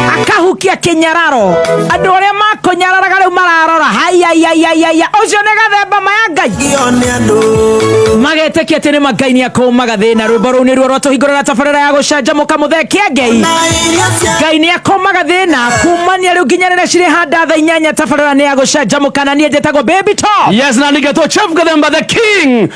akahukia kinyararo andu aria makunyararaga riu mararora haiaiaiaiaia ucio ni gathemba maya ngai magetĩkia atĩ nĩ mangai nĩ akũmaga thĩna rwĩmbo rũu nĩruo rwatũhingũrĩra tabarĩra ya gũcanjamũka mũthekia ngei ngai nĩ akũmaga thĩna kumania rĩu nginya rĩrĩa cirĩ handa tha inyanya tabarĩra nĩ ya gũcanjamũka na niĩ njĩtagwo baby top yes na ningetwo chef gathemba the king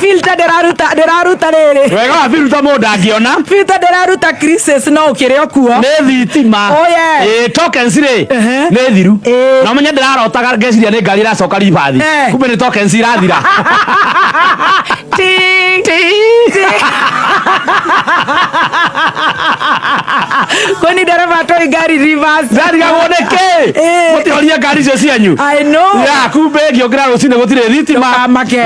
filter ndĩraruta ndĩraruta rĩrĩ wega wa biruta mũndũ ndangĩona filter ndĩraruta crisis no ũkĩrĩ o kuo nĩ thitima Oh, yeah. Ĩĩ, tokens rĩ Ehe. nĩ thiru Ĩĩ. na menye ndĩrarotaga ngeciria nĩ ngari ĩracoka ribathi Eh. kumbe nĩ tokens irathira Ting, ting, ting. kwani ndereba atoi ngari reverse ndarigagwo nĩ kĩ Ĩĩ. mũtihoria ngari icio cianyu I know. Ya, kumbe ngĩũkĩra rũcinĩ gũtirĩ thitima Ndũkamake.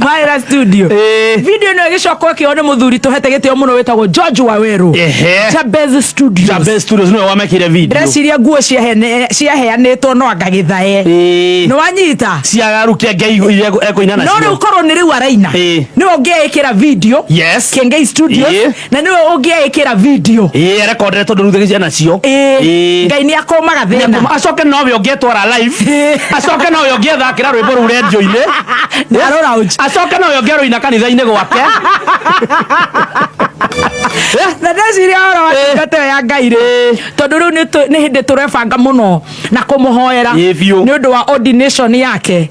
Mwaĩra studio Eh. video ĩno ĩgĩcoka ĩkĩo nĩ mũthuri tũhete gĩtĩo mũno wĩtagwo George Wawerũ Ehe. Jabez Studios Jabez Studios nĩwe wamekire video ndĩreciria nguo ciahene- ciaheanĩtwo no anga gĩthae Ĩĩ. nĩ wanyita ciagaru kĩa ngai iria ekũina no rĩu nacio korwo nĩ rĩu araina Ĩĩ. nĩ ũngĩaĩkĩra video Yes. kengei studios Ĩĩ. na nĩwe ũngĩaĩkĩra video ĩĩ rekondere tondũ rutha gĩciana cio Ĩĩ, Ĩĩ. ngai nĩ akũmaga thĩna Nyakũma, acoke nowe ũngĩtwara live Ĩĩ. acoke nowe ũngĩethakĩra rwĩmbo rũu rendio-inĩ Na rũraunji. acoke nowe ũngĩarũina kanitha-inĩ gwake na ndeciria ũhoro wa Ĩĩ. ndungata ĩyo ya ngai rĩ tondũ rĩu nĩ tũ- nĩ hĩndĩ tũrebanga mũno na kũmũhoera Ĩĩ biũ. nĩ ũndũ wa ordination yake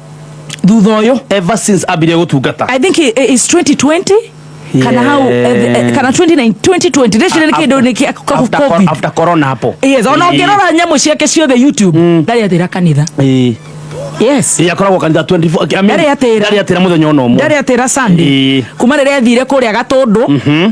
thutha ũyũ ever since ambire gũtungata i think it- it's 2020 kana hau eh, eh, kana 29 2020 ndĩcire nĩ kĩndũ nĩ kĩa After cor- covid after corona hapo yes ona Eh, ũngĩrora nyamũ ciake ciothe youtube ndarĩ atĩra kanitha eh, yes eh, akoragwo kanitha 24 I mean, Ndarĩ atĩra. ndarĩ atĩra mũthenya ona ũmwe ndarĩ atĩra sunday Eh. kuma rĩrĩa athire kũrĩa gatũndũ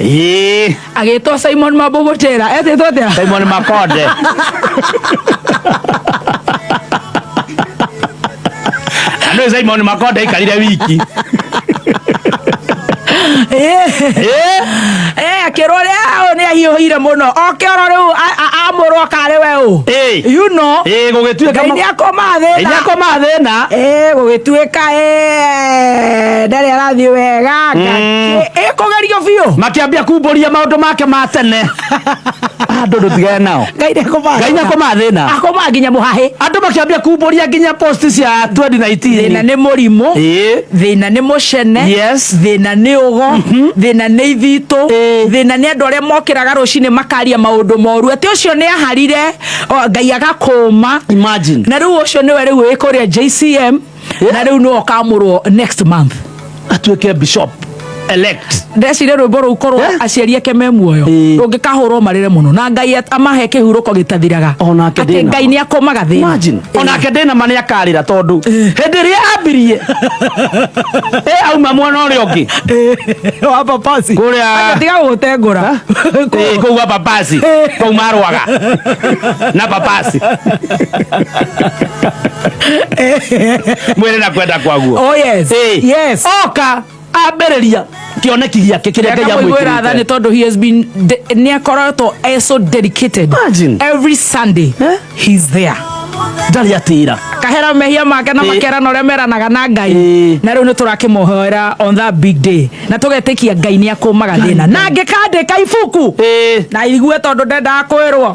Ĩĩ, agĩtwo simon mabũgũtĩra etĩtwo atĩa simon makonde na nĩ simon makonde aikarire wiki Eh, Ĩĩ, eh, akĩrwo rĩ aũ nĩ ahiũhire mũno oke oro rĩu a- a- amũrwo akarĩ we ũ ĩĩ, you know ĩĩ, gũgĩtuĩka ngai ma- nĩ akoma Ngai thĩna nĩakoma thĩna Eh, gũgĩtuĩka eh, ndarĩ arathiĩ wega Ngai- ĩkũgerio biũ makĩambia kumbũria maũndũ make ma tene andũ ndũtigane nao ngai nĩkũmathĩna. ngai nĩkũmathĩna akũmaa nginya mũhahĩ andũ makĩambia kumbũria nginya post cia thĩna 2019 nĩ mũrimũ Ĩĩ. thĩna nĩ mũcene Yes. thĩna nĩ ũgo thĩna nĩ ithitũ Ĩĩ. thĩna nĩ andũ arĩa mokĩraga rũcinĩ makaria maũndũ moru atĩ ũcio nĩ aharire o, ngai agakũma Imagine. na rĩu ũcio nĩwe rĩu wĩ kũrĩa jcm na rĩu nĩwe ũkamũrwo next month atuĩke bishop elect ndecire rwĩmbo rũu korwo Eh? aciari ake me muoyo Ĩĩ. rũngĩkahũrwo marĩre mũno na ngai at- amahe kĩhurũko gĩtathiraga O nake atĩ ndĩna ngai ma. nĩ akomaga thĩna imagine Ĩĩ. onake ndĩna ma nĩ akarĩra tondũ hĩndĩ ĩrĩa ambirie ĩ auma mwena ũrĩa ũngĩ Ĩĩ, wa papasi Kũrĩa- Acha tiga gũtengũra Ĩĩ, kũu wa papasi kũu marwaga na papasi mwĩrĩ na kwenda kwaguo Oh, yes. Eh. Yes. oka ambĩrĩria kĩoneki gĩake kĩrĩa ngai akamwĩgwĩra tha nĩ amwĩkĩrĩte tondå he has been de- nĩ akoretwo e so dedicated Imagine. every sunday Eh? he's there ndarĩ atĩra akahera mehia make na Eh. makerana ũrĩa meranaga na ngai Eh. na rĩu nĩ tũrakĩmũhoera on that big day na tũgetĩkia ngai nĩ akũmaga thĩna na ngĩkandĩka ibuku na igue tondũ ndendaga kwĩrwo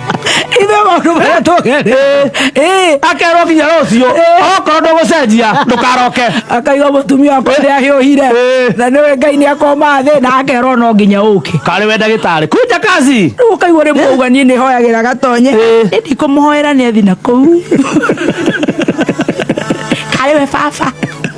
ithe maundu maria tugerire eh akerwo nginya rucio okorwo ndugucenjia ndukaroke akaiga mutumia wakwa ni ahiuhire Eh. na niwe ngai ni akoma thi na akerwo no nginya uke kari we ndagitari kunja kazi rĩu ũkaigua rĩmwe uga niĩ nĩ hoyagĩra gatonye Eh. nĩ ndikũmũhoera nĩ athi na kũu karĩ we baba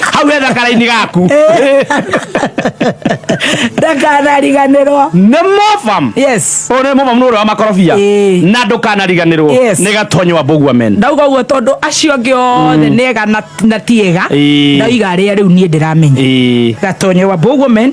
hau he thakara-inĩ gaku ndakanariganĩrwo nĩ mobam yes ũyũ nĩ mobam nĩ ũrĩa wa makorobia Ĩĩ. na ndũkanariganĩrwo Yes. nĩ gatonyo wa mbũgua men ndauga guo tondũ acio angĩ othe nega na- na tiega Ĩĩ. ndaiga arĩa rĩu niĩ ndĩramenya Ĩĩ. gatonyo wa bogomen